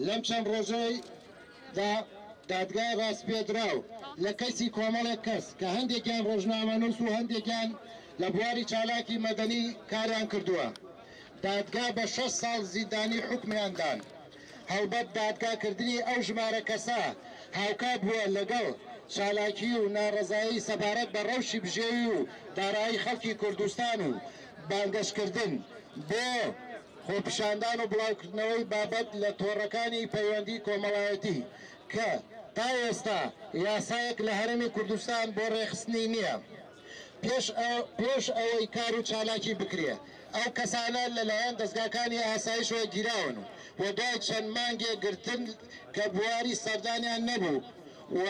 لەم چەند ڕۆژەی دا دادگای ڕاسپێدراو لە کەسی کۆمەڵێک کەس کە هەندێکیان ڕۆژنامەنووس و هەندێکیان لە بواری چالاکی مەدەنی کاریان کردووە دادگا بە شەش ساڵ زیندانی حکمیاندان هەڵبەت دادگا کردنی ئەو ژمارە کەسە هاوکات بووە لەگەڵ چالاکی و ناڕەزایی سەبارەت بە ڕەوشی بژێوی و دارایی خەڵکی کوردستان و بانگەش کردن بۆ خۆپیشاندان و بڵاوکردنەوەی بابەت لە تۆڕەکانی پەیوەندی کۆمەڵایەتی کە تا ئێستا یاسایەک لە هەرێمی کوردستان بۆ ڕێکخستنی نییە. پێش ئەوەی کار و چالاکی بکرێ ئەو کەسانە لەلایەن دەزگاکانی ئاسایشەوە گیراون و دوای چەند مانگێک گرتن کە بواری سەردانیان نەبوو و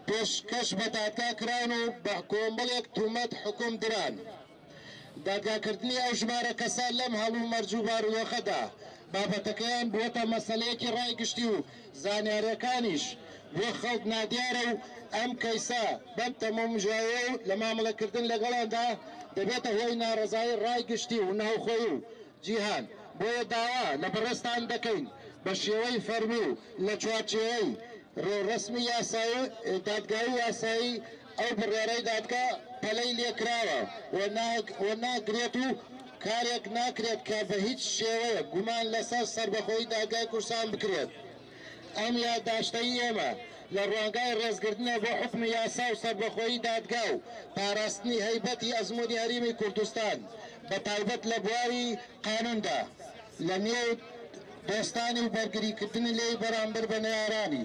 پێشکەش بە دادگا کراون و بە کۆمەڵێک تومەت حوکم دران. دادگاکردنی ئەو ژمارە کەسە لەم هەڵومەرج و بارودۆخەدا بابەتەکەیان بووەتە مەسەلەیەکی ڕای گشتی و زانیارییەکانیش بۆ خەڵک نادیارە و ئەم کەیسە بەم تەمومژاوە و لە مامەڵەکردن لەگەڵاندا دەبێتە هۆی ناڕەزایی ڕای گشتی و ناوخۆیی و جیهان، بۆیە داوا لە بەڕێزتان دەکەین بە شێوەی فەرمی و لە چوارچێوەی ڕێوڕەسمی یاسایی و دادگایی و یاسایی، ئەو بڕیارەی دادگا پەلەی لێکراوە و ناگرێت و کارێک ناکرێت کە بە هیچ شێوەیەک گومان لەسەر سەربەخۆیی دادگای کوردستان بکرێت. ئەم یاداشتەی ئێمە لە ڕوانگای ڕێزگرتنە بۆ حوکم و یاسا و سەربەخۆیی دادگا و پاراستنی هەیبەتی ئەزموونی هەریمی کوردستان بە تایبەت لە بواری قانووندا لە نێو دۆستانی و بەرگریکردنی لێی بەرامبەر بە نەیارانی